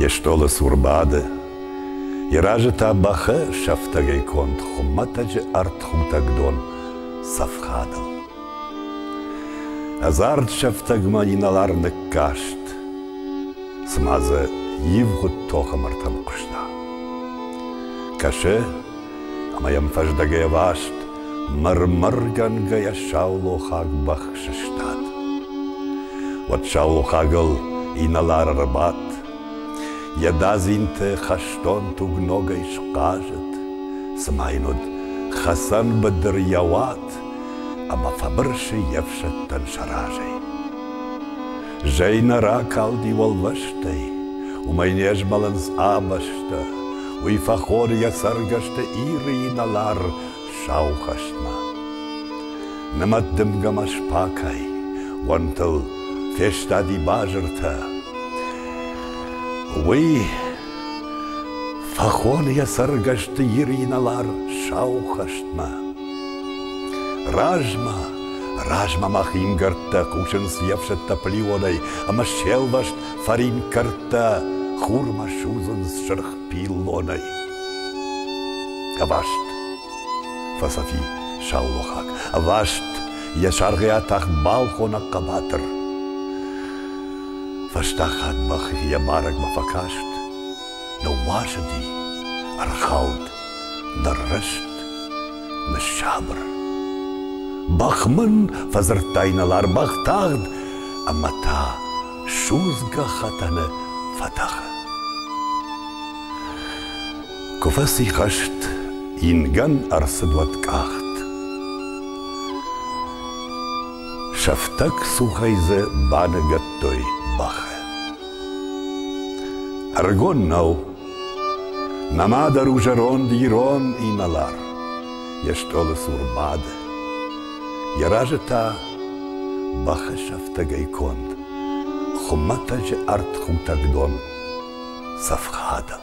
йе стъолы цур бады. Йӕ разы та бӕхы сӕфтӕгӕй конд хуымӕтӕджы ӕртхутӕг дон цӕф хадыл. Ӕдзард сӕфтӕгмӕ инӕлар ныккаст, цыма дзы ивгъуыд тохы мыртӕм хъуыста. Кӕсы, Ӕмӕ йӕм фӕздӕгӕй ӕваст мыр-мыргӕнгӕйӕ саулохаг бӕх сыстад. Уӕд саулохагыл инӕлар ӕрбадт, йӕ дадзинты хӕстон туг ногӕй схъазыд, цыма йын уыд хӕцӕн быдыр йӕ уат ӕмӕ фӕбырсы йе фсӕдтӕн сӕ разӕй. Зӕй нӕ ракалди уӕллӕстӕй, Уымӕй не змӕлынц абӕстӕ, Уый фӕхоры йӕ цӕргӕсты Иры инӕлар сау хӕстмӕ. Нымӕт дымгӕмӕ спакай, уӕнтыл фестади базыртӕ. Уый фӕхоны йӕ цӕргӕсты Иры инӕлар сау хӕстмӕ. Размӕ, размӕ ма хингӕрдтӕ хъусынц йе фсӕдтӕ плеонӕй ӕмӕ се лвӕст фӕринкӕрдтӕ хурмӕ судзынц сырх пиллонӕй. Ӕваст фӕсӕфи саулохаг, ӕваст йӕ саргъйӕ тахт балхоны хъӕбатыр. Фӕстаг хатт бӕх йӕ марӕгмӕ фӕкаст, ныууасыди, ӕрхауд Дрыст, ныссабыр. Бӕх мын фӕдзырдта инӕлар-бӕх тагъд, ӕмӕ та судзгӕ хӕтӕны фӕтӕхы. Куы фӕцихӕст, ингӕн ӕрцыд уӕткъахт. Сӕфтӕг цухӕй дзы баныгӕдтой бӕхы. Ӕрыгон нӕу, Нӕма дӕр у зӕронд ирон инӕлар йе стъолы цур бады. Йӕ разы та бӕхы сӕфтӕгӕй конд хуымӕтӕджы ӕртхутӕг дон цӕфхадыл.